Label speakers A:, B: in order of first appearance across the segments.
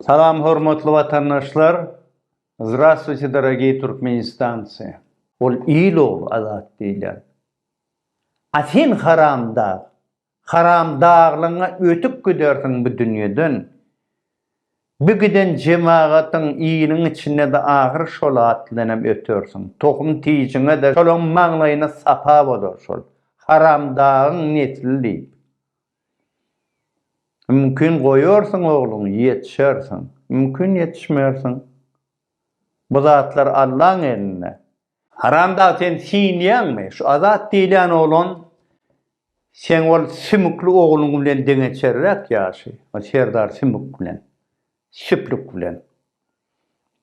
A: Salam hormatly watandaşlar! Zdravstvuyte dorogiy Turkmenistanci! Ol il ogly azat diýilýär. A sen haramdag, haramdaglygyňa ötüp gidersiň bu dünýeden. Bu giden jemagatyň, iliň içinde-de ahyry şol at bilenem ötersiň. Tohum tijiňe-de şolaň maňlaýyna sapa bolar şol. Haramdagyň nesli diýip. Mümkin goýarsyň ogluň, ýetişersiň. Mümkin ýetişmersiň. Bu zatlar Allaň elinde. Haramdag sen siňýäňmi? Şu Azat diýilýän oglan seň ol sümükli ogluň bilen deňeçerräk ýaşy. O Serdar sümük bilen. Süplük bilen.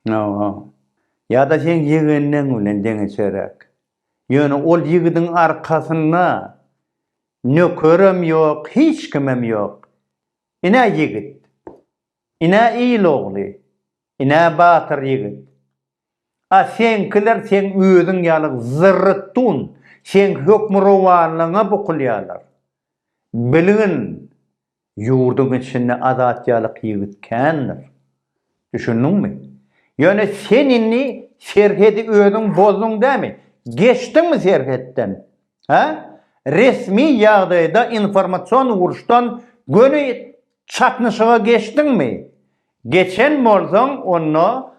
A: Hawa. Ýa-da seň ýegenleň bilen deňeçerräk. Ýöne ol ýigidiň arkasynda Nökerem ýok, hiç kimem ýok. Ine ýigit. Ine il ogly. Ine batyr ýigit. A seňkiler seň özüň ýaly zyrrytdun, seňki hökmürowanlygyňa bukulýarlar. Bilgin, Ýurduň içinde Azat ýalyk ýigit kändir. Düşündiňmi? Ýöne sen indi serhedi özüň bozduň dämi? Geçdiňmi serhetden? Hä? Resmi ýagdaýda informasion uruşdan göni çaknyşyga geçdiňmi? Geçen bolsaň onda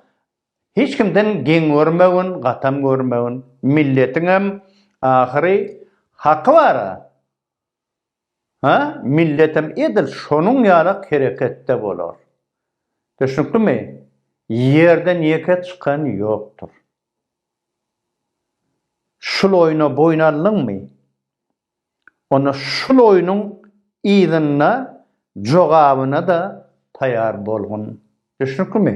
A: hiç kimden geň görmegin, gatam görmegin. Milletiňem ahyry haky bar-a. Hä, milletem edil şonuň ýalak hereketde bolar. Düşnüklimi? Ýerden ýeke çykan ýokdur. Şul oýna boýun aldyňmy? Onda şul oýnuň yzynda jogabyna-da taýar bolgun. Düşnüklimi?